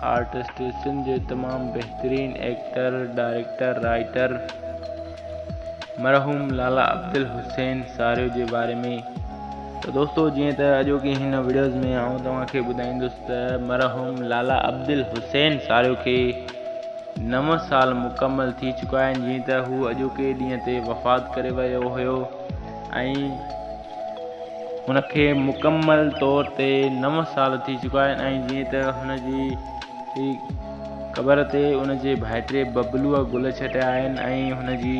Artist Sindh جو تمام بهترين ايڪٽر، ڊائريڪٽر، رائيٽر مرحوم لالا عبدالحسين ساريو جي باري ۾ ته دوستو جيئن ته اڄوڪي هن ويڊيوز ۾ آئون توهان کي ٻڌائيندس ته مرحوم لالا عبدالحسين ساريو کي نو سال مڪمل ٿي چڪا آهن جيئن ته هو اڄوڪي ڏينهن تي وفات ڪري ويو هيو ۽ هن کي مڪمل طور تي نو سال ٿي چڪا آهن ۽ جيئن ته هن جي قبر تي ان جي ڀائٽي ببلوء گل ڇٽيا آهن ۽ هن جي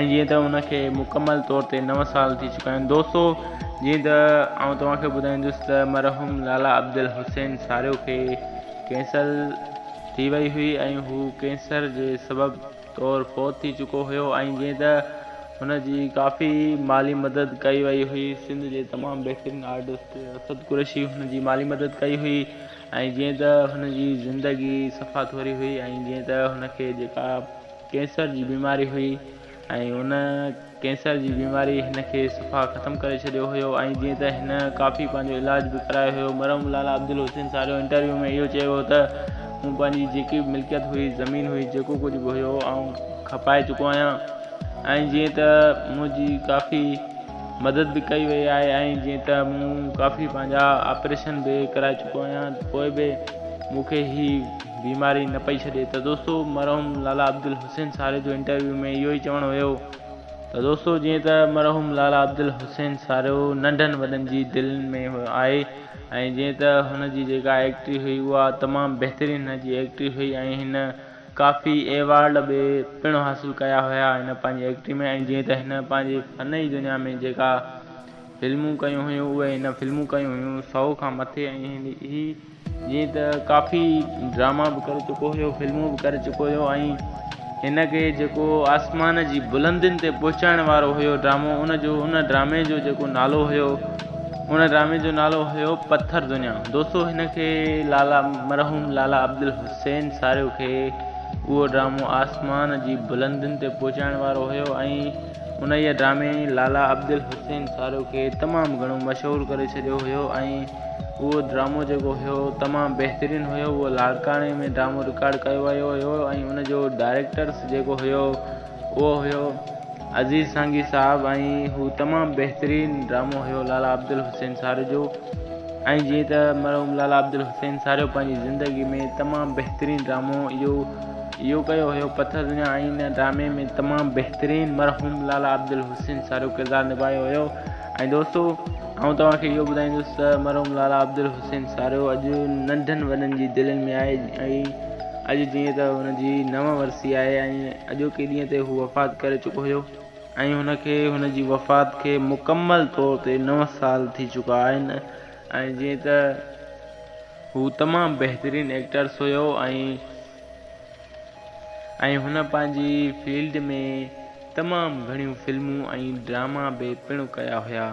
۽ جيئن ته ان کي مڪمل طور تي نو سال ٿي چڪا آهن دوستو جيئن ته آئون توهان کي ٻڌائيندس ته مرحوم لالا عبدالحسين ساريو کي ڪينسر ٿي وئي هئي ۽ هو ڪينسر جي سبب طور فوت ٿي چڪو هيو ۽ جئين ته هن جي ڪافي مالي مدد ڪئي وئي هئي. سنڌ جي تمام بهترين آرٽسٽ اسد قريشي هن جي مالي مدد ڪئي هئي ۽ جئين ته هن جي زندگي صفا ٿوري هئي ۽ جئين ته هن کي جيڪا ڪينسر جي بيماري هئي ۽ ان ڪينسر جي بيماري هن کي صفا ختم ڪري ڇڏيو هيو ۽ جيئن ته هن ڪافي پنهنجو علاج به ڪرايو هيو. مرحوم لالا عبدالحسين ساريو انٽرويو ۾ اهو چيو هو ته مون پنهنجي جيڪي به ملڪيت هئي، زمين هئي، جيڪو ڪجهه به هيو آئون کپائي چڪو آهيان ۽ جيئن ته منهنجي ڪافي مدد به ڪئي وئي آهي ۽ جيئن ته مون ڪافي پنهنجا آپريشن به ڪرائي چڪو آهيان پوء به مون کي هي بيماري نه پئي ڇڏي ته دوستو مرحوم لالا عبدالحسين حسين ساري جو انٽرويو ۾ اهو ئي چوڻ هيو ته دوستو جيئن ته مرحوم لالا عبدالحسين سارو ننڍن وڏن جي دلين ۾ آهي ۽ جيئن ته هن جي جيڪا ايڪٽري هئي اها تمام بهترين هن جي ايڪٽري هئي ۽ هن ڪافي ايوارڊ به پڻ حاصل ڪيا هيا هن پنهنجي ايڪٽري ۾ ۽ جيئن ته هن پنهنجي فن جي دنيا ۾ جيڪا فلمون ڪيون هيون اهي هن فلمون ڪيون هيون سئو کان مٿي ۽ هي جيئن ته ڪافي ڊراما به ڪري چڪو هيو فلمون به ڪري چڪو هيو ۽ هن کي جيڪو آسمان جي بلندين تي پهچائڻ وارو هيو ڊرامو ان جو ان ڊرامي جو جيڪو نالو هيو ان ڊرامي جو نالو هيو پٿر دنيا دوستو هن کي لالا مرحوم لالا عبدالحسين ساريو کي اهو ڊرامو آسمان جي بلندين تي پهچائڻ وارو هيو ۽ انهيء ڊرامي لالا عبدالحسين ساريو کي تمام گهڻو مشهور ڪري ڇڏيو هيو ۽ اهو ڊرامو جيڪو هيو تمام بهترين هيو اهو لاڙڪاڻي ۾ ڊرامو رڪارڊ ڪيو ويو هيو ۽ ان جو ڊائريڪٽرس جيڪو هيو اهو هيو عزيز سانگي صاحب ۽ هو تمام بهترين ڊرامو هيو لالا عبدالحسين ساري جو ۽ جيئن ته مرحوم لالا عبدالحسين ساريو پنهنجي زندگي ۾ تمام بهترين ڊرامو اهو اهو ڪيو هيو پٿر دنيا ۽ ان ڊرامي ۾ تمام بهترين مرحوم لالا عبدالحسين ساريو ڪردار نڀايو هيو ۽ دوستو آئون توهان کي اهو ٻڌائيندس ته مرحوم لالا عبدالحسين ساريو اڄ ننڍن وڏن جي دلين ۾ آهي ۽ اڄ جيئن ته هن جي نو ورسي آهي ۽ اڄوڪي ڏينهن تي هو وفات ڪري چڪو هيو ۽ هن کي هن جي وفات کي مڪمل طور تي نو سال ٿي چڪا آهن ۽ جيئن ته هو تمام بهترين ايڪٽرس هيو ۽ ۽ هن پنهنجي فيلڊ ۾ تمام گهڻيون فلمون ۽ ڊراما به پڻ ڪيا هيا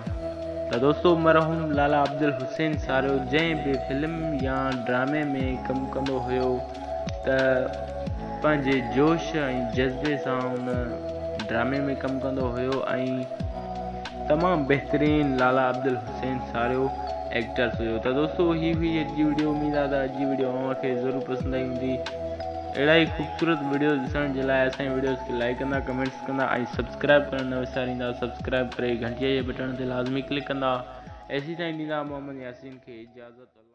ته دوستو مرحوم لالا عبدالحسين ساريو جنهن به فلم يا ڊرامي ۾ ڪم ڪندو هيو ته پنهنجي جوش ۽ جذبي سان ان ڊرامي ۾ ڪم ڪندو هيو ۽ تمام بهترين لالا عبدالحسين سين ساريو ايڪٽرس هيو ته دوستو هي هئي اڄ جي ويڊيو اميد آهي ته اڄ جي ويڊيو اوهان کي ضرور پسند آئي هوندي اهڙا ئي خوبصورت ويڊيوز ڏسڻ جي لاء اسان ويڊيوز کي لائڪ ڪندا ڪمينٽس ڪندا ۽ سبسڪرائب ڪرڻ نه وساريندا سبسڪرائب ڪري گھنٽيء جي بٽڻ تي لازمي ڪلڪ ڪندا ايسي تائين ڏيندا محمد ياسين کي اجازت